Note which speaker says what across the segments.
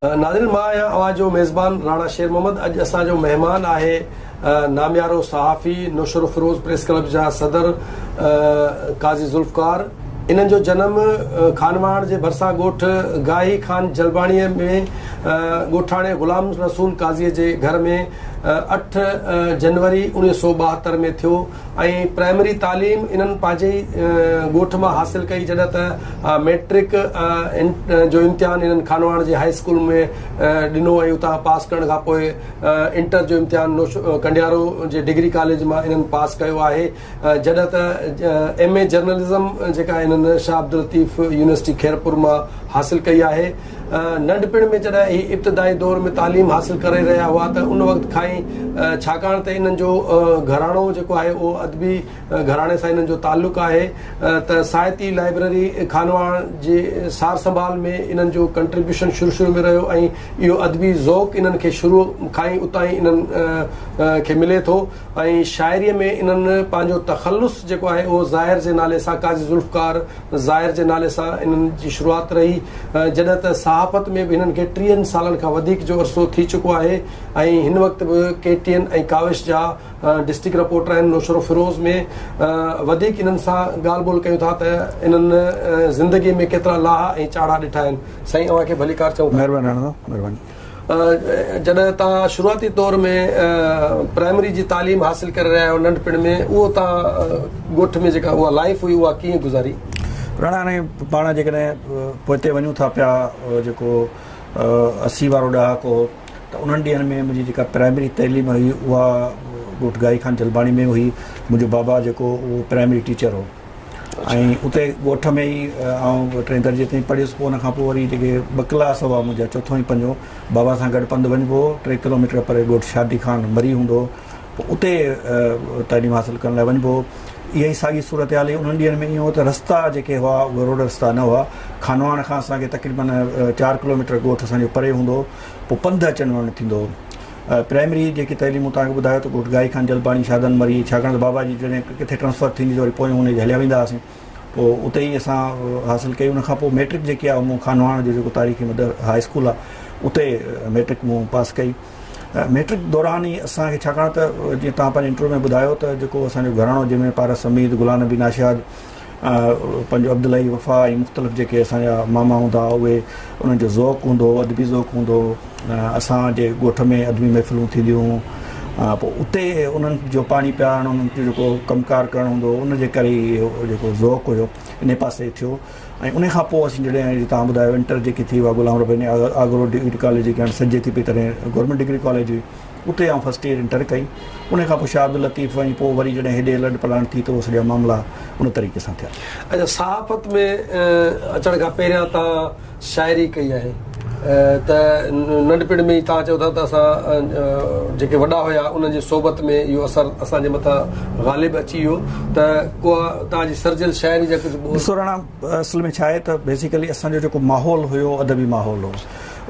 Speaker 1: ناظرين مان آهيان اوهان جو ميزبان راڻا شير محمد اڄ اسان جو مهمان آهي ناميارو صحافي نوشروفروز پريس ڪلب جا صدر قاضي ذوالفقار انهن جو جنم خانواهڻ جي ڀرسان ڳوٺ گاهي خان جلباڻي ۾ ڳوٺاڻي غلام رسول قاضي جي گهر ۾ اٺ جنوري انويهه سو ٻاهتر ۾ ٿيو ۽ پرائمري تعليم انهن پنهنجي ئي ڳوٺ مان حاصل ڪئي جڏهن ته مئٽرڪ جو امتحان انهن خانواهڻ جي هاء اسڪول ۾ ڏنو ۽ اتان پاس ڪرڻ کان پوء انٽر جو امتحان ڪنڊيارو جي ڊگري ڪاليج مان انهن پاس ڪيو آهي جڏهن ته ايم اي جرنلزم جيڪا انهن شاهه عبداللطيف يونيورسٽي خيرپور مان حاصل ڪئي آهي. ننڍپڻ ۾ جڏهن هي ابتدائي دور ۾ تعليم حاصل ڪري رهيا هئا ته ان وقت کان ئي ڇاڪاڻ ته انهن جو گهراڻو جيڪو آهي اهو ادبي گهراڻي سان انهن جو تعلق آهي ته ساهتي لائبريري خانواهڻ جي سار سنڀال ۾ انهن جو ڪنٽريبيوشن شروع شروع ۾ رهيو ۽ اهو ادبي ذوق انهن کي شروع کان ئي اتان ئي انهن کي ملي ٿو. ۽ شاعريء ۾ انهن پنهنجو تخلص جيڪو آهي اهو ظاهر جي نالي سان قاضي ذوالفقار ظاهر جي نالي سان انهن جي شروعات رهي جڏهن ته صحافت ۾ به هنن کي ٽيهن سالن کان وڌيڪ جو عرصو ٿي چڪو آهي ۽ هن وقت به ڪي ٽي اين ۽ ڪاوش جا ڊسٽرڪٽ رپورٽر آهن نوشهروفيروز ۾ وڌيڪ انهن سان ڳالهه ٻولهه ڪيون ٿا ته انهن زندگي ۾ ڪيترا لاها ۽ چاڙها ڏٺا آهن سائين اوهان کي ڀليڪار چئون ٿا. مهرباني رهڻ دو مهرباني. جڏهن توهان شروعاتي طور ۾ پرائمري جي تعليم حاصل ڪري رهيا آهيو ننڍپڻ ۾ اهو توهان ڳوٺ ۾ جيڪا اها لائيف هئي اها ڪيئن گذاري؟ راڻا هاڻي
Speaker 2: پاڻ جيڪڏهن پوئتي وڃون ٿا پيا جيڪو اسي وارو ڏهاڪو هو ته انهن ڏينهن ۾ منهنجي جيڪا پرائمري تعليم هئي اها ڳوٺ گائي خان جلباڻي ۾ هئي منهنجو بابا جيڪو اهو پرائمري ٽيچر هو ۽ اتي ڳوٺ ۾ ئي آئون ٽئين درجي تائين پڙهيس پوء ان کان پوء وري جيڪي ٻه ڪلاس هئا منهنجا چوٿون ۽ پنجو بابا سان گڏ پنڌ وڃبو هو ٽي ڪلوميٽر پري ڳوٺ شادي خان مري هوندو هو اتي تعليم حاصل ڪرڻ لاء وڃبو هو اها ئي ساڳي صورتحال هئي انهن ڏينهن ۾ ائين هو ته رستا جيڪي هئا اهي روڊ رستا نه هئا خانواڻ کان اسان کي تقريبن چار ڪلوميٽر ڳوٺ اسان جو پري هوندو هو پوء پنڌ اچڻ وڃڻ ٿيندو هو پرائمري جيڪي تعليم مون توهان کي ٻڌايو ته ڳوٺ گائي خان جلباڻي شاهدان مري ڇاڪاڻ ته بابا جي جڏهن ڪٿي ٽرانسفر ٿيندي ته وري پويون انهي جي هليا ويندا هئاسين پوء اتي ئي اسان حاصل ڪئي ان کان پوء ميٽرڪ جيڪي آهي مون خانواڻ جو جيڪو تاريخي مدر هاء اسڪول آهي اتي ميٽرڪ مون پاس ڪئي ميٽرڪ دوران ئي اسان کي ڇاڪاڻ ته جيئن توهان پنهنجي انٽرويو ۾ ٻڌايو ته جيڪو اسان جو گهراڻو جنهن ۾ پارس حميد غلام نبي ناشاد پنهنجو عبداللهي وفا ۽ مختلف جيڪي اسان جا ماما هوندا هئا اهي انهن جو ذوق هوندو هو ادبي ذوق هوندو هو اسان جي ڳوٺ ۾ ادبي محفلون ٿينديون هيون پوء اتي انهن جو پاڻي پيارڻ انهن جو جيڪو ڪم ڪار ڪرڻو هوندو هو ان جي ڪري ئي اهو جيڪو ذوق هيو ان پاسي ٿيو ۽ ان کان پوء اسين جڏهن جي تان ٻڌايو انٽر جيڪي ٿي هئا غلام رباني آگرو ڊگري ڪاليج جيڪي هاڻي سڏجي ٿي پئي تڏهن گورنمينٽ ڊگري ڪاليج هئي اتي آئون فرسٽ ايئر انٽر ڪئي ان کان پوء شاهه عبداللطيف وڃي پوء وري جڏهن هيڏي الرٽ پلانٽ ٿي ته اهو سڄا معاملا ان طريقي سان ٿيا. اچا صحافت
Speaker 1: ۾ اچڻ کان پهريان تان شاعري ڪئي آهي ته ننڍپڻ ۾ ئي تان چئو ٿا ته اسان جيڪي وڏا هيا انهن جي صحبت ۾ اهو اثر اسان جي مٿان غالب اچي ويو ته ڪو تان جي سرجيل شاعري جا ڪجهه ٻول. ڏسو رنا اصل
Speaker 2: ۾ ڇا آهي ته بيسيڪلي اسان جو جيڪو ماحول هيو ادبي ماحول هو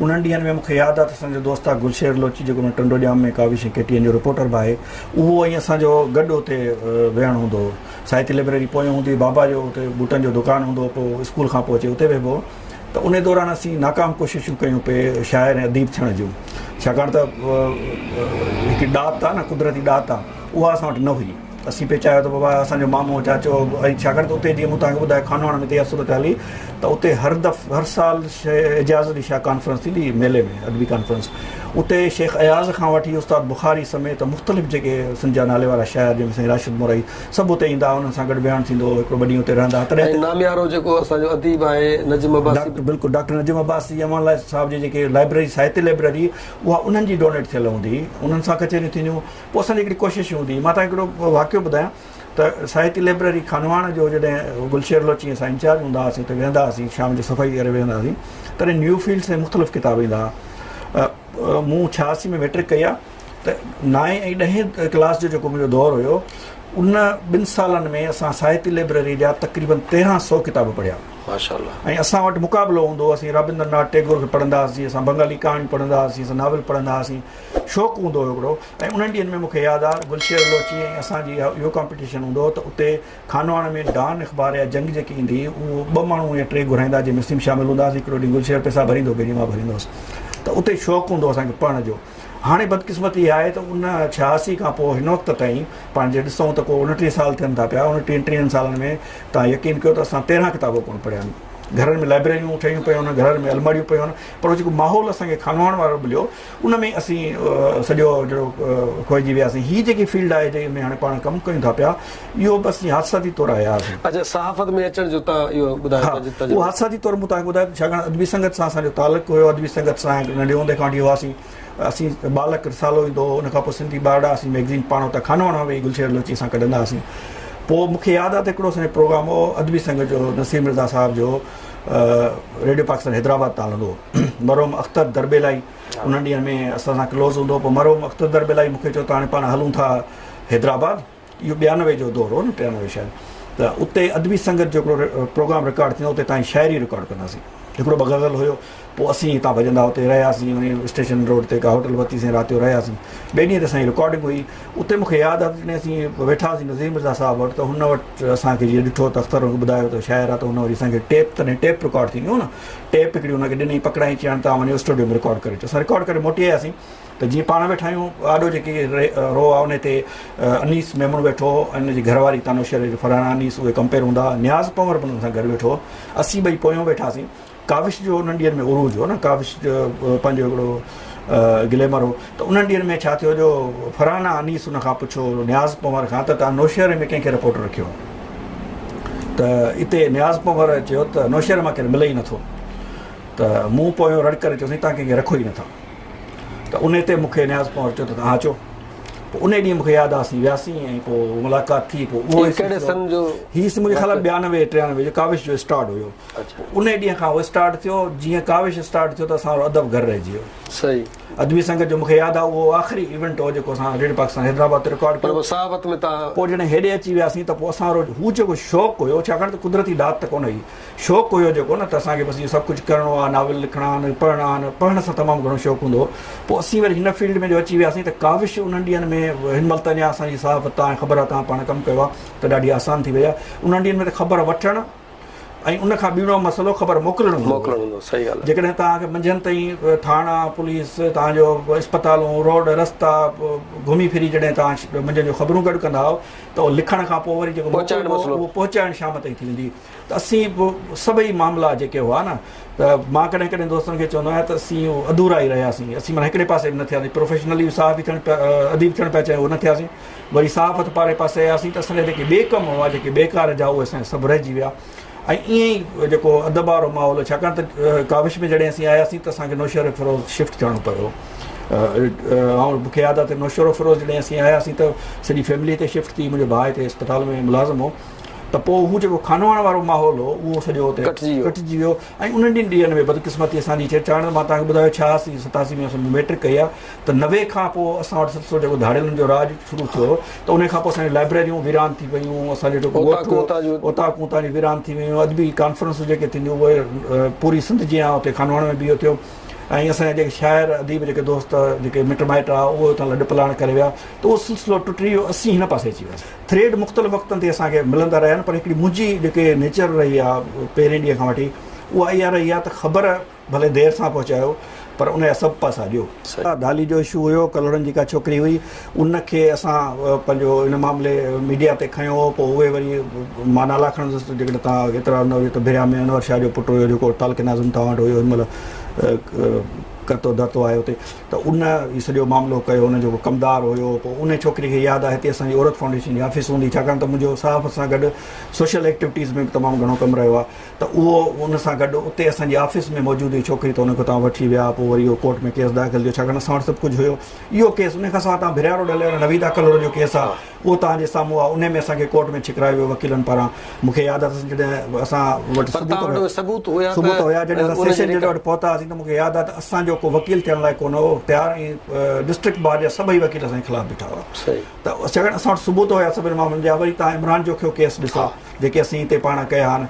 Speaker 2: انهن ڏينهن ۾ مون کي ياد آهي ته اسان جو دوست آهي گل شير لوچي جيڪو هن Tando Jam ۾ Kawish ۽ K T N جو رپورٽر به آهي اهو ۽ اسان جو گڏ اتي ويهڻ هوندو هو ساهتي لئبرري پويان هوندي هئي بابا جو اتي بوٽن جو دڪان هوندو هو پوء اسڪول کان پوء اچي اتي ويهبو هو ته انهي دوران اسين ناڪام ڪوششون ڪيون پئي شاعر ۽ اديب ٿيڻ جون ڇاڪاڻ ته هڪ ڏات آهي نه قدرتي ڏات آهي اها اسان وٽ نه هئي اسين پئي چاهيو ته بابا اسان جو مامو چاچو ۽ ڇاڪاڻ ته اتي جيئن مون توهان کي ٻڌايو خانواهڻ ۾ تيئا صورت هلي ته اتي هر دف هر سال اعجاز علي شاهه ڪانفرنس ٿيندي هئي ميلي ۾ ادبي ڪانفرنس اتي شيخ اياز کان وٺي استاد بخاري سميت مختلف جيڪي سنڌ جا نالي وارا شاعر جن ۾ سائين راشد مورائي سڀ اتي ايندا هئا انهن سان گڏ ويهڻ ٿيندو هو هڪڙو ٻه ڏينهن اتي رهندا هئا تڏهن ۽ ناميارو جيڪو اسان
Speaker 1: جو اديب آهي نجم عباسي ڊاڪٽر به بلڪل ڊاڪٽر نجم
Speaker 2: عباسي امان الله صاحب جي جيڪي لائبرري ساهتيه لائبرري اها انهن جي ڊونيٽ ٿيل هوندي هئي انهن سان ڪچهريون ٿينديون پوء اسان جي هڪڙي ڪوشش هوندي هئي. مان توهان کي هڪڙو واقعو ٻڌايان ته ساهتي لئبرري خانواهڻ جو جڏهن گلشير لوچي ۽ اسان انچارج هوندا هئاسين اتي ويهندا هئاسين شام جو صفائي ڪري ويهندا هئاسين تڏهن نيو فيلڊس ۽ مختلف ڪتاب ايندا هئا. مون ڇياسي ۾ مئٽرڪ ڪئي آ ته نائين ۽ ڏهين ڪلاس جو جيڪو منهنجو دور هيو ان ٻن سالن ۾ اسان ساهتي لئبرري جا تقريبن تيرهن سئو ڪتاب پڙهيا. ماشاءالله. ۽ اسان وٽ مقابلو هوندو هو اسين رابندر ناٿ ٽيگور کي پڙهندا هئاسين اسان بنگالي ڪهاڻيون پڙهندا هئاسين اسان ناول پڙهندا هئاسين. شوق هوندو هيو هڪڙو ۽ انهن ڏينهن ۾ مون کي ياد آ گل شير بلوچي ۽ اسان جي اهو ڪامپيٽيشن هوندو هو ته اتي خانواهڻ ۾ ڊان اخبار يا جنگ جيڪي ايندي هئي اهو ٻه ماڻهو يا ٽي گهرائيندا جنهن ۾ اسين به شامل هوندا هئاسين هڪڙو ڏينهن گل شير پئسا ڀريندو ڪي ڏينهن مان ڀريندو هوس ته اتي شوق هوندو هو اسان کي پڙهڻ جو هاڻي بدقسمتي اها آهي ته ان ڇهاسي کان پوء هن وقت تائين پاڻ جي ڏسون ته ڪو اڻٽيهه سال ٿين ٿا پيا اڻٽيهن ٽيهن سالن ۾ تان يقين ڪيو ته اسان تيرهن ڪتاب ڪونه پڙهيا آهن گهرن ۾ لائبريريون ٺهيون پيون آهن گهرن ۾ الماڙيون پيون آهن پر جيڪو ماحول اسان کي خانواهڻ وارو مليو ان ۾ اسين سڄو جهڙو کوئجي وياسين هي جيڪي فيلڊ آهي جنهن ۾ هاڻي پاڻ ڪم ڪيون ٿا پيا اهو بس جي حادثاتي طور آيا هئاسين. اچا صحافت ۾ اچڻ
Speaker 1: جو تان اهو ٻڌايو ها پنهنجو تجربو. اهو حادثاتي طور
Speaker 2: مون تان ٻڌايو ڇاڪاڻ ادبي سنگت سان اسان جو تعلق هيو ادبي سنگت سان ننڍي هوندي کان وٺي هئاسين اسين ٻالڪ رسالو ايندو هو ان کان پوء سنڌي ٻارڙا اسين مئگزين پاڻ اتان خانواڻ مان ويهي گلشير لوچي سان ڪڍندا هئاسين پوء مون کي ياد آهي ته هڪڙو اسان جو پروگرام هو ادبي سنگت جو نصير مرزا صاحب جو ريڊيو پاڪستان حيدرآباد تان هلندو هو. مرحوم اختر دربيلائي انهن ڏينهن ۾ اسان سان ڪلوز هوندو هو پوء مرحوم اختر دربيلائي مون کي چيو ته هاڻي پاڻ هلون ٿا حيدرآباد اهو ٻيانوي جو دور هو نه ٽيانوي شايد ته اتي ادبي سنگت جو هڪڙو پروگرام رڪارڊ ٿيندو اتي تانجي شاعري رڪارڊ ڪنداسين هڪڙو ٻه غزل هيو پوء اسين هتان ڀڄندا اتي رهياسين وڃي اسٽيشن روڊ تي ڪا هوٽل ورتيسين رات جو رهياسين ٻئي ڏينهن تي اسان جي رڪارڊنگ هئي اتي مون کي ياد آهي جڏهن اسين ويٺا هئاسين نظير مرزا صاحب وٽ ته هن وٽ اسان کي جيئن ڏٺو ته اختر ٻڌايو ته شاعر آ ته هن وري اسان کي ٽيپ تڏهن ٽيپ رڪارڊ ٿينديون هيون نه ٽيپ هڪڙي هن کي ڏني، پڪڙائين چيائين ته اوهان وڃو اسٽوڊيو ۾ رڪارڊ ڪري اچو. اسان رڪارڊ ڪري موٽي آياسين ته جيئن پاڻ ويٺا آهيون، آڏو جيڪي رو آهي انهي تي انيس ميمڻ ويٺو هو ۽ ان جي گهر واري تانو شيري جو فرحان انيس اهي ڪمپيئر هوندا هئا، نياز پنور به انهن سان گڏ ويٺو هو، اسين ٻئي پويون ويٺاسين. ڪاوش جو انهن ڏينهن ۾ عروج هو نه ڪاوش پنهنجو هڪڙو گليمر هو. ته انهن ڏينهن ۾ ڇا ٿيو جو فرحانه انيس ان کان پڇيو نياز پنور کان ته توهان نوشهري ۾ ڪنهن کي رپورٽر رکيو ته اتي نياز پنور چيو ته نوشهري مان ڪير ملي ئي نٿو ته مون پويو رڙ ڪري چيو سائين توهان ڪنهن کي رکو ئي نٿا ته ان تي مون کي نياز پنور چيو ته توهان اچو پوء ان ڏينهن مون کي ياد آهي اسين وياسين ۽ پوء ملاقات ٿي پوء اهو ڪهڙي سن جو
Speaker 1: هي مون کي خيال آهي
Speaker 2: ٻيانوي ٽيانوي جو ڪاوش جو اسٽارٽ هيو ان ڏينهن کان اهو اسٽارٽ ٿيو جيئن ڪاوش اسٽارٽ ٿيو ته اسان جو ادب گهر رهجي ويو صحيح ادبي سنگت جو مون کي ياد آ اهو آخري ايونٽ هو جيڪو اسان ريڊيو پاڪستان حيدرآباد تي رڪارڊ ڪيو. پوء
Speaker 1: جڏهن هيڏي اچي وياسين
Speaker 2: ته پوء اسان وٽ هو جيڪو شوق هيو ڇاڪاڻ ته قدرتي ڏات ته ڪونه هئي شوق هيو جيڪو نه ته اسان کي بس اهو سڀ ڪجهه ڪرڻو آ ناول لکڻا آهن پڙهڻا آهن پڙهڻ سان تمام گهڻو شوق هوندو هو پوء اسين وري هن فيلڊ ۾ جو اچي وياسين ته ڪاوش انهن ڏينهن ۾ هن مهل ته اڃا اسان جي صحافت آ ۽ خبر آ توهان پاڻ ڪم ڪيو آ ته ڏاڍي آسان ٿي وئي آ انهن ڏينهن ۾ ته خبر وٺڻ ۽ ان کان ٻيڻو مسئلو خبر موڪلڻ هوندو موڪلڻ هوندو صحيح ڳالهه جيڪڏهن توهان کي منجهند تائين ٿاڻا پوليس توهان جو اسپتالون روڊ رستا گهمي ڦري جڏهن توهان منجهند جو خبرون گڏ ڪندا آهو ته اهو لکڻ کان پوء وري جيڪو پهچائڻ مسئلو اهو پهچائڻ شام تائين ٿي ويندي ته اسين به سڀئي معاملا جيڪي هئا نه ته مان ڪڏهن ڪڏهن دوستن کي چوندو آهيان ته اسين اڌورا ئي رهياسين اسين مانا هڪڙي پاسي به نه ٿياسين پروفيشنلي صحافي ٿيڻ اديب ٿيڻ پيا چاهيون اهو نه ٿياسين وري صاف هٿ پاڙي پاسي آياسين ته اسان جا جيڪي ٻئي ڪم هئا، جيڪي بيڪار جا اهي اسان جا سڀ رهجي ويا ۽ ائين ئي جيڪو ادب وارو ماحول هو ڇاڪاڻ ته ڪاوش ۾ جڏهن اسين آياسين ته اسان کي نوشهروفيروز شفٽ ٿيڻو پيو هو مون کي ياد آهي ته نوشهروفيروز جڏهن اسين آياسين ته سڄي فيملي هتي شفٽ ٿي منهنجو ڀاء هتي اسپتال ۾ ملازم هو ته پوء هو جيڪو خانواهڻ وارو ماحول هو اهو سڄو هتي ڪٽجي ويو ۽ انهن ڏينهن ۾ بدقسمتي اسان جي ڇي ڇاڪاڻ ته مان توهان کي ٻڌايو ڇهاسي ستاسي ۾ اسين ميٽرڪ ڪئي آهي ته نوي کان پوء اسان وٽ سلسلو جيڪو ڌاڙيلن جو راڄ شروع ٿيو ته انهي کان پوء اسان جون لائبريريون ويران ٿي ويون، اسان جون جيڪو اوطاقون تان جون ويران ٿي ويون، ادبي ڪانفرنسون جيڪي ٿينديون اهي پوري سنڌ جيان اتي خانواهڻ ۾ به اهو ٿيو ۽ اسان جا جيڪي شاعر اديب جيڪي دوست جيڪي مٽ مائٽ هئا اهي اتان لڏ پلاڻ ڪري ويا ته اهو سلسلو ٽٽي ويو اسين هن پاسي اچي وياسين ٿريڊ مختلف وقتن تي اسان کي ملندا رهيا آهن پر هڪڙي منهنجي جيڪي نيچر رهي آهي پهرين ڏينهن کان وٺي اها اها رهي آهي ته خبر ڀلي دير سان پهچايو پر ان جا سڀ پاسا ڏيو. سچ. دالي جو اشو هيو ڪلهوڙن جي ڪا ڇوڪري هئي ان کي اسان پنهنجو ان معاملي ميڊيا تي کنيو هو پوء اهي وري مان نالا کڻندس ته جيڪڏهن توهان ايترا نه هجو ته ڀريا ۾ انور شاهه جو پٽ هيو جيڪو تعلقي ناظم توهان وٽ هيو ان مهل ڪرتو ڌرتو آهي اتي ته ان هي سڄو معاملو ڪيو ان جيڪو ڪمدار هيو پوء ان ڇوڪري کي ياد آهي هتي اسان جي عورت فائونڊيشن جي آفيس هوندي ڇاڪاڻ ته منهنجو صحافت سان گڏ سوشل ايڪٽيوٽيز ۾ به تمام گهڻو ڪم رهيو آهي ته اهو ان سان گڏ اتي اسان جي آفيس ۾ موجود هئي ڇوڪري ته ان کي اتان وٺي ويا پوء وري اهو ڪورٽ ۾ ڪيس داخل ٿيو ڇاڪاڻ اسان وٽ سڀ ڪجهه هيو اهو ڪيس ان کان سواء تان ڀريا روڊ هليو ويو نويدا ڪلهوڙو جو ڪيس آهي اهو توهان جي سامهون آهي ان ۾ اسان کي ڪورٽ ۾ ڇڪرايو ويو وڪيلن پاران مون کي ياد اٿس جڏهن اسان وٽ پر توهان وٽ ثبوت هيا ته ثبوت هيا جڏهن اسان سيشن جج وٽ پهتا هئاسين ته مون کي ياد آهي ته اسان جو ڪو وڪيل ٿيڻ لاء ڪونه هو تيار ۽ ڊسٽرڪٽ بار جا سڀئي وڪيل اسان جي خلاف بيٺا هئا ته ڇاڪاڻ اسان وٽ ثبوت هيا سڀني معاملن جا وري توهان عمران جوکيو ڪيس ڏسو جيڪي اسين هتي پاڻ ڪيا آهن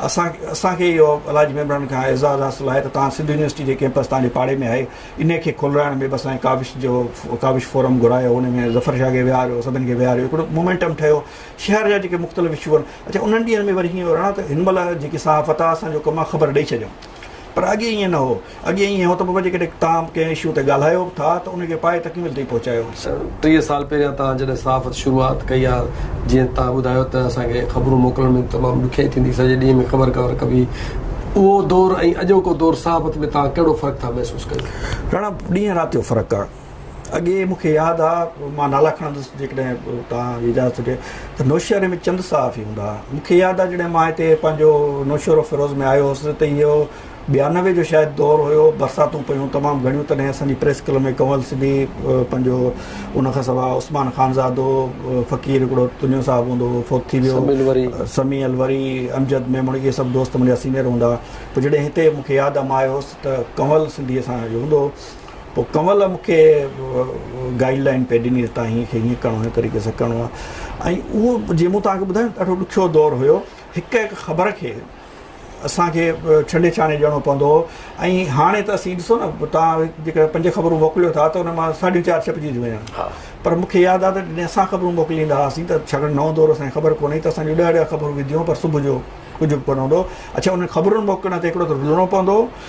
Speaker 2: اسان اسان کي اهو الله جي مهرباني کان اعزاز حاصل آهي ته توهان سنڌ يونيورسٽي جي ڪيمپس توهان جي پاڙي ۾ آهي انهي کي کولرائڻ ۾ به اسان ڪاوش جو ڪاوش فورم گهرايو ان ۾ ظفر شاهه کي ويهاريو سڀن کي ويهاريو هڪڙو مومينٽم ٺهيو شهر جا جيڪي مختلف اشو آهن اڇا انهن ڏينهن ۾ وري هيئن هو رڻا ته هن مهل جيڪي صحافت آهي اسان جو ڪم آهي خبر ڏئي ڇڏيون پر اڳي ائين نه هو. اڳي ائين هو ته پوء جيڪڏهن تان ڪنهن اشو تي ڳالهايو به ٿا ته ان کي پائي تڪميل تائين پهچايو. ٽيهه سال پهريان
Speaker 1: تان جڏهن صحافت شروعات ڪئي ها جيئن تان ٻڌايو ته اسان کي خبرون موڪلڻ ۾ تمام ڏکيائي ٿيندي سڄي ڏينهن ۾ خبر ڪور ڪبي اهو دور ۽ اڄوڪو دور صحافت ۾ تان ڪهڙو فرق ٿا محسوس ڪيو؟ راڻا، ڏينهن
Speaker 2: رات جو فرق آ. اڳي مون کي ياد آ مان نالا کڻندس جيڪڏهن توهان جي اجازت هجي ته نوشهري ۾ چند صحافي هوندا ها مون کي ياد آ جڏهن مان هتي پنهنجو نوشهرو فيروز ۾ آيو هوس ته اهو ٻيانوي جو شايد دور هيو برساتون پيون تمام گهڻيون تڏهن اسان جي پريس ڪلب ۾ ڪنول سبي پنهنجو ان کان سوا عثمان خانزادو فقير هڪڙو تنيو صاحب هوندو هو فوت ٿي ويو سمي الوري امجد ميمڻ اهي سڀ دوست منهنجا سينيئر هوندا ها پوء جڏهن هتي مون کي ياد آ مان آيو هوس ته ڪنول سنڌي اسان جو هوندو هو پوء ڪنول مون کي گائيڊ لائين پئي ڏني ته تان هيئن کي هيئن ڪرڻو هن طريقي سان ڪرڻو آهي ۽ اهو جيئن مون توهان کي ٻڌايو ڏاڍو ڏکيو دور هيو هڪ هڪ خبر کي اسان کي ڇنڊي ڇاڻي ڏيڻو پوندو هو ۽ هاڻي ته اسين ڏسو نه تان جيڪڏهن پنج خبرون موڪليو ٿا ته ان مان ساڍيون چار ڇپجي ٿيون وڃن پر مون کي ياد آهي ته جڏهن اسان خبرون موڪليندا هئاسين ته ڇاڪاڻ نئون دور اسان کي خبر ڪونه هئي ته اسان جون ڏهه ڏهه خبرون وينديون هيون پر صبح جو ڪجهه به ڪونه هوندو هو اڇا انهن خبرن موڪلڻ تي هڪڙو ته رلڻو پوندو هو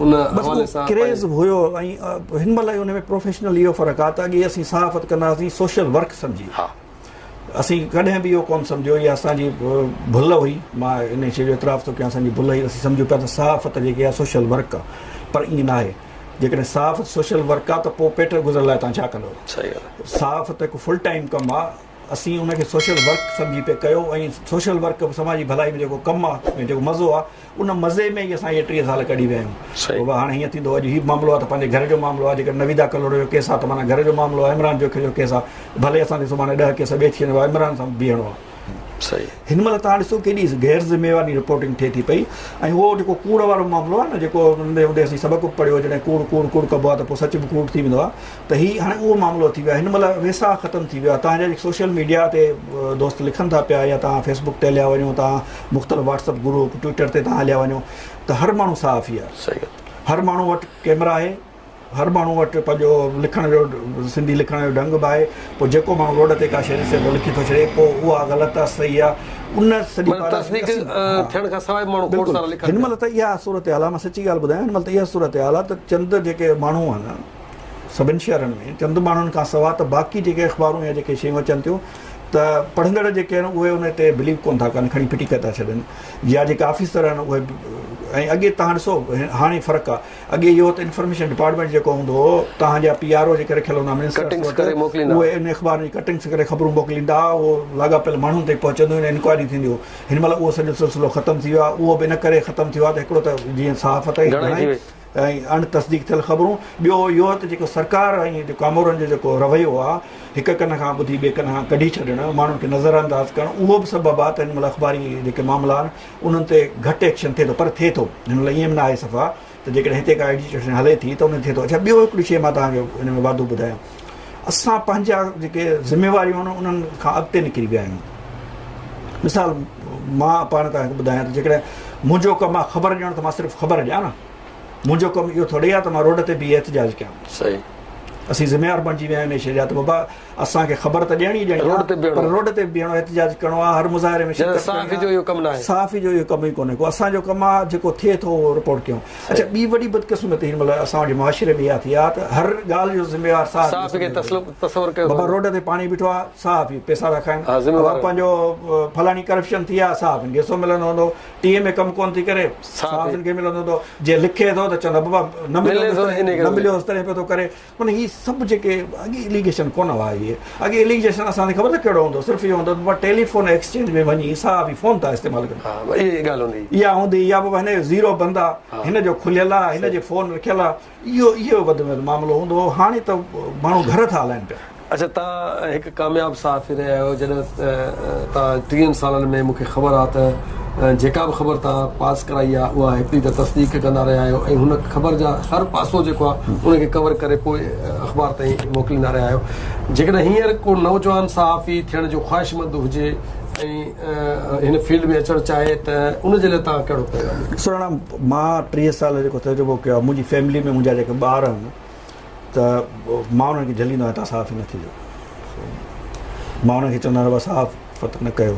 Speaker 1: ان حوالي سان ڪريز هيو ۽
Speaker 2: هن مهل ان ۾ پروفيشنل اهو فرق آهي ته اڳي اسين صحافت ڪندا هئاسين سوشل ورڪ سمجهي اسين ڪڏهن به اهو ڪون سمجهيو يا اسان جي ڀل هئي مان ان شي جو اعتراف ٿو ڪيان اسان جي ڀل هئي اسين سمجهيو پيا ته صحافت جيڪي آهي سوشل ورڪ آهي پر ائين ناهي جيڪڏهن صحافت سوشل ورڪ آهي ته پوء پيٽ گذر لاء تان ڇا ڪندو صحافت هڪ فل ٽائيم ڪم آهي اسين ان کي سوشل ورڪ سمجهي پئي ڪيو ۽ سوشل ورڪ به سماجي ڀلائي ۾ جيڪو ڪم آ ۽ جيڪو مزو آ ان مزي ۾ ئي اسان اهي ٽيهه سال ڪڍي ويا آهيون صحيح بابا هاڻي هيئن ٿيندو اڄ هي معاملو آ ته پنهنجي گهر جو معاملو آ جيڪڏهن نويدا ڪلهوڙو جو ڪيس آ ته معنيٰ گهر جو معاملو آ عمران جوکي جو ڪيس آ ڀلي اسان کي سڀاڻي ڏهه ڪيس ٻئي ٿي وڃن بابا عمران سان بيهڻو آ صحيح هن مهل توهان ڏسو ڪيڏي غير ذميواري رپورٽنگ ٿئي ٿي پئي ۽ اهو جيڪو ڪوڙ وارو معاملو آ نه جيڪو ننڍي هوندي اسين سبق به پڙهيو جڏهن ڪوڙ ڪوڙ ڪوڙ ڪبو آ ته پوء سچ به ڪوڙ ٿي ويندو آ ته هي هاڻي اهو معاملو ٿي ويو آهي هن مهل ويساهه ختم ٿي ويو آهي توهان جا جيڪي سوشل ميڊيا تي دوست لکن ٿا پيا يا توهان فيس بڪ تي هليا وڃو توهان مختلف واٽس اپ گروپ ٽوئيٽر تي توهان هليا وڃو ته هر ماڻهو صحافي آهي هر ماڻهو وٽ ڪيمرا آهي هر ماڻهو وٽ پنهنجو لکڻ جو سنڌي لکڻ جو ڍنگ به آهي پوء جيڪو ماڻهو روڊ تي ڪا شهري صحيح لکي ٿو ڇڏي پوء اها غلط آهي صحيح آهي ان سڄي ٿيڻ
Speaker 1: کان سواء ماڻهو کوڙ سارا لکن هن مهل ته اها
Speaker 2: صورتحال آهي مان سچي ڳالهه ٻڌايان هن مهل ته اها صورتحال آهي ته چند جيڪي ماڻهو آهن سڀن شهرن ۾ چند ماڻهن کان سوا ته باقي جيڪي اخبارون يا جيڪي شيون اچن ٿيون ته پڙهندڙ جيڪي آهن اهي ان تي بليو ڪونه ٿا ڪن کڻي ڦٽي ڪري ٿا ڇڏن يا جيڪي آفيسر آهن اهي ۽ اڳي تهان ڏسو هاڻي فرق آهي اڳي اهو هو ته انفارميشن ڊپارٽمينٽ جيڪو هوندو هو تهان جا پي آر او جيڪي رکيل هوندا منسٽرس وٽ اهي ان اخبارن جي ڪٽنگس ڪري خبرون موڪليندا هئا اهو لاڳاپيل ماڻهن تائين پهچندو هن انڪوائري ٿيندي هو هن مهل اهو سڄو سلسلو ختم ٿي ويو آهي اهو به ان ڪري ختم ٿي ويو آهي ته هڪڙو ته جيئن صحافت ۽ اڻ تصديق ٿيل خبرون ٻيو اهو ته جيڪو سرڪار ۽ ڪامورن جو جيڪو رويو آهي هڪ ڪن کان ٻڌي ٻئي ڪن کان ڪڍي ڇڏڻ ماڻهن کي نظر انداز ڪرڻ اهو به سبب آهي ته هن مهل اخباري جيڪي معاملا آهن انهن تي گهٽ ايڪشن ٿئي ٿو پر ٿئي ٿو هن مهل ايئن به ناهي صفا ته جيڪڏهن هتي ڪا ايڊجسٽريشن هلي ٿي ته ان تي ٿئي ٿو اڇا ٻيو هڪڙي شيء مان توهان کي ان ۾ واڌو ٻڌايان اسان پنهنجا جيڪي ذميواريون آهن انهن کان اڳتي نڪري ويا آهيون مثال مان پاڻ تان ٻڌايان ته جيڪڏهن منهنجو ڪم آهي خبر ڏيڻ ته مان صرف خبر ڏيان نه منهنجو ڪم اهو ٿوري آهي ته مان روڊ تي بيهي احتجاج ڪيان صحيح
Speaker 1: اسين ذميوار
Speaker 2: بڻجي ويا آهيون شيء جا ته بابا اسان کي خبر ته ڏيڻي ڏيڻي روڊ تي بيهڻو روڊ تي بيهڻو احتجاج ڪرڻو آهي هر مظاهري ۾ صحافي جو اهو ڪم نه آهي
Speaker 1: صحافي جو اهو ڪم ئي ڪونهي
Speaker 2: ڪو اسان جو ڪم آهي جيڪو ٿئي ٿو اهو رپورٽ ڪيون اچا ٻي وڏي بدقسمتي هن مهل اسان جي معاشري ۾ اها ٿي آهي ته هر ڳالهه جو ذميوار صحافي کي تصور ڪيو بابا روڊ تي پاڻي بيٺو آهي صحافي پئسا ٿا کائن بابا پنهنجو فلاڻي ڪرپشن ٿي آهي صحافين کي ڪيسو ملندو هوندو ٽي ايم اي ڪم ڪونه ٿي ڪري صحافين کي ملندو هوندو جي لکي ٿو ته چوندا بابا نه مليو نه مليو هوس تڏهن پئي ٿو ڪري معنيٰ هي سڀ جيڪي اڳي اليگيشن ڪونه هئا اهي اڳي اليگيشن اسان تي خبر نه ڪهڙو هوندو صرف اهو هوندو بابا ٽيليفون ايڪسچينج ۾ وڃي صاحب هي فون ٿا استعمال ڪن ها اها ئي ڳالهه هوندي هئي اها هوندي يا بابا هن جو زيرو بند آهي هن جو کليل آهي هن جي فون رکيل آهي اهو اهو وڌ ۾ وڌ معاملو هوندو هو هاڻي ته ماڻهو گهر ٿا هلائن پيا اچا توهان
Speaker 1: هڪ ڪامياب صحافي رهيا آهيو جڏهن توهان ٽيهن سالن ۾ مون کي خبر آهي ته جيڪا به خبر توهان پاس ڪرائي آهي اها هڪڙي ته تصديق ڪندا رهيا آهيو ۽ هن خبر جا هر پاسو جيڪو آهي ان کي ڪور ڪري پوء اخبار تائين موڪليندا رهيا آهيو جيڪڏهن هينئر ڪو نوجوان صحافي ٿيڻ جو خواهشمند هجي ۽ هن فيلڊ ۾ اچڻ چاهي ته ان جي لاء توهان ڪهڙو پيغام ڏيندو. سراڻا مان
Speaker 2: ٽيهه سال جيڪو تجربو ڪيو آهي منهنجي فيملي ۾ منهنجا جيڪي ٻار آهن ته مان انهن کي جهليندو آهيان، توهان صحافي نه ٿيجو. سو مان انهن کي چوندو آهيان ته بابا صحافت نه ڪيو.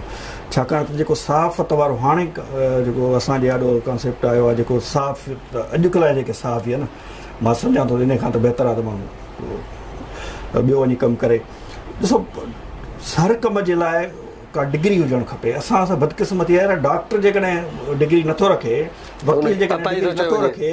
Speaker 2: ڇاڪاڻ ته جيڪو صحافت وارو هاڻي جيڪو اسان جي آڏو ڪانسيپٽ آيو آهي جيڪو صحافت اڄڪلهه جا جيڪي صحافي آهن مان سمجهان ٿو ته انهي کان ته بهتر آهي ته ماڻهو ٻيو وڃي ڪم ڪري. ڏسو هر ڪم جي لاء ڪا ڊگري هجڻ کپي. اسان سان بدقسمتي آهي ته ڊاڪٽر جيڪڏهن ڊگري نه ٿو رکي، وڪيل جيڪڏهن ڊگري نه ٿو رکي،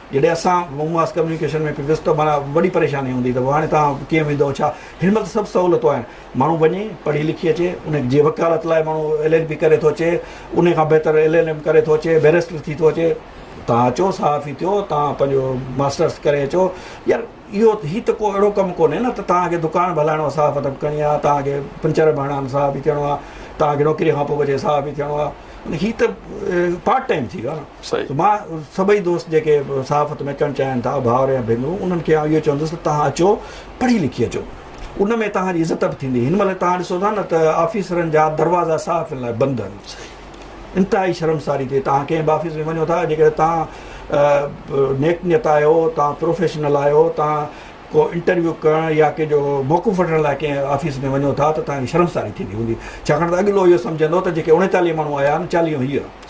Speaker 2: جڏهن اسان مون ماس ڪميونيڪيشن ۾ پيندس ته معنيٰ وڏي پريشاني هوندي ته هاڻي توهان ڪيئن ويندؤ ڇا؟ هن مهل ته سڀ سهولتون آهن ماڻهو وڃي پڙهي لکي اچي ان جي وڪالت لاء ماڻهو ايل ايل بي ڪري ٿو اچي انهي کان بهتر ايل ايل ايم ڪري ٿو اچي بيرسٽر ٿي ٿو اچي توهان اچو صحافي ٿيو توهان پنهنجو ماسٽرس ڪري اچو يار اهو هي ته ڪو اهڙو ڪم ڪونهي نه ته توهان کي دڪان به هلائڻو آهي صحافت به ڪرڻي آهي توهان کي پنچر به هڻڻا صحافي ٿيڻو آهي توهان کي نوڪري کان پوء به اچي صحافي ٿيڻو آهي هي ته پارٽ ٽائيم ٿي ويو نه صحيح. مان سڀئي دوست جيڪي صحافت ۾ اچڻ چاهين ٿا ڀائر يا ڀينرون انهن کي آئون اهو چوندس ته توهان اچو پڙهي لکي اچو ان ۾ توهان جي عزت به ٿيندي هن مهل توهان ڏسو ٿا نه ته آفيسرن جا دروازا صحافين لاء بند آهن صحيح. انتهائي شرمساري ٿي توهان ڪنهن به آفيس ۾ وڃو ٿا جيڪڏهن توهان نيڪ نيت آهيو توهان پروفيشنل آهيو توهان ڪو انٽرويو ڪرڻ يا ڪنهن جو موقف وٺڻ لاء ڪنهن آفيس ۾ وڃو ٿا ته توهان کي شرمساري ٿيندي هوندي ڇاڪاڻ ته اڳلو اهو سمجهندو ته جيڪي اڻيتاليهه ماڻهو آيا آهن چاليهون هيء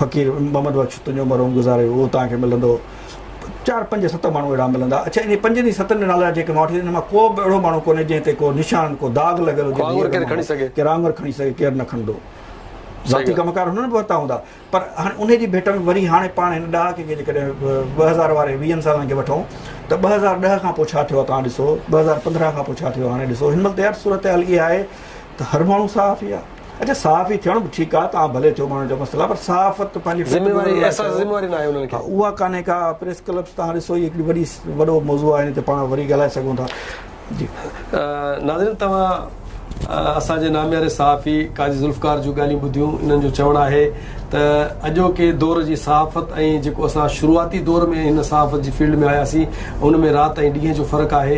Speaker 2: فقير محمد بخش تنهنجو مرحوم گذاري ويو اهو توهان کي ملندو چار پنج ست ماڻهو اهڙا ملندا اڇا انهن پنجن ئي ستن جا نالا جيڪي مان وٺي انهن مان ڪو به اهڙو ماڻهو ڪونهي جنهن تي ڪو نشان ڪو داغ لڳل هجي ڪو آڱر ڪير کڻي سگهي ڪير آڱر کڻي سگهي ڪير نه کڻندو ذاتي ڪم ڪار هنن به ورتا هوندا پر هاڻي انهي جي ڀيٽ ۾ وري هاڻي پاڻ هن ڏهاڪي کي جيڪڏهن ٻه هزار واري ويهن سالن کي وٺون ته ٻه هزار ڏهه کان پوء ڇا ٿيو آهي توهان ڏسو ٻه هزار پندرهن کان پوء ڇا ٿيو هاڻي ڏسو هن مهل ته يار صورتحال اها آهي ته هر ماڻهو صحافي آهي اچا صحافي ٿيڻ به ٺيڪ آهي توهان ڀلي ٿيو ماڻهن جو مسئلو آهي پر صحافت پنهنجي ذميواري احساس ذميواري ناهي انهن کي اها ڪانهي ڪا پريس ڪلپس تهان ڏسو هي هڪڙي وڏي وڏو موضوع آهي ان تي پاڻ وري ڳالهائي سگهون ٿا جي ناظرين توهان اسان جي نامياري صحافي قاضي ذوالفقار جون ڳالهيون ٻڌيون انهن جو چوڻ آهي ته اڄوڪي دور جي صحافت ۽ جيڪو اسان شروعاتي دور ۾ هن صحافت جي فيلڊ ۾ آياسين ان ۾ رات ۽ ڏينهن جو فرق آهي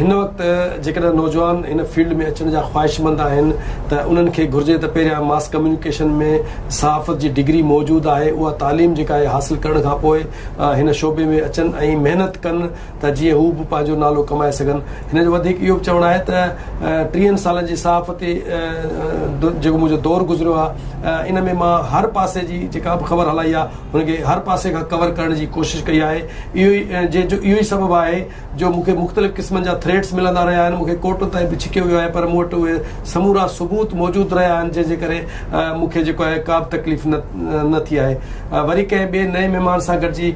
Speaker 2: هن وقت جيڪڏهن نوجوان هن فيلڊ ۾ اچڻ جا خواهشمند آهن ته انهن کي گهرجي ته پهريان ماس ڪميونيڪيشن ۾ صحافت جي ڊگري موجود آهي اها تعليم جيڪا آهي حاصل ڪرڻ کانپوء هن شعبي ۾ اچن ۽ محنت ڪن ته جيئن هو به پنهنجو نالو ڪمائي سگهن. هن جو وڌيڪ اهو به چوڻ آهي ته ٽيهن سالن جي صحافتي جيڪو منهنجو دور گذريو آهي ان ۾ مان هر پاسي جي جيڪا به خبر هلائي آهي ان کي هر پاسي کان ڪور ڪرڻ جي ڪوشش ڪئي آهي اهو ئي جنهن جو اهو ئي سبب آهي جو مون کي مختلف قسمن جا ٿريٽس ملندا رهيا آهن مون کي ڪورٽن تائين به ڇڪيو ويو آهي پر مون وٽ اهي سمورا ثبوت موجود رهيا آهن جنهن جي ڪري مون کي جيڪو آهي ڪا به تڪليف نه نه ٿي آهي وري ڪنهن ٻئي نئين مهمان سان گڏجي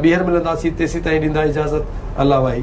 Speaker 2: ٻيهر ملنداسين تيسيتائين ڏيندا اجازت الله واهي.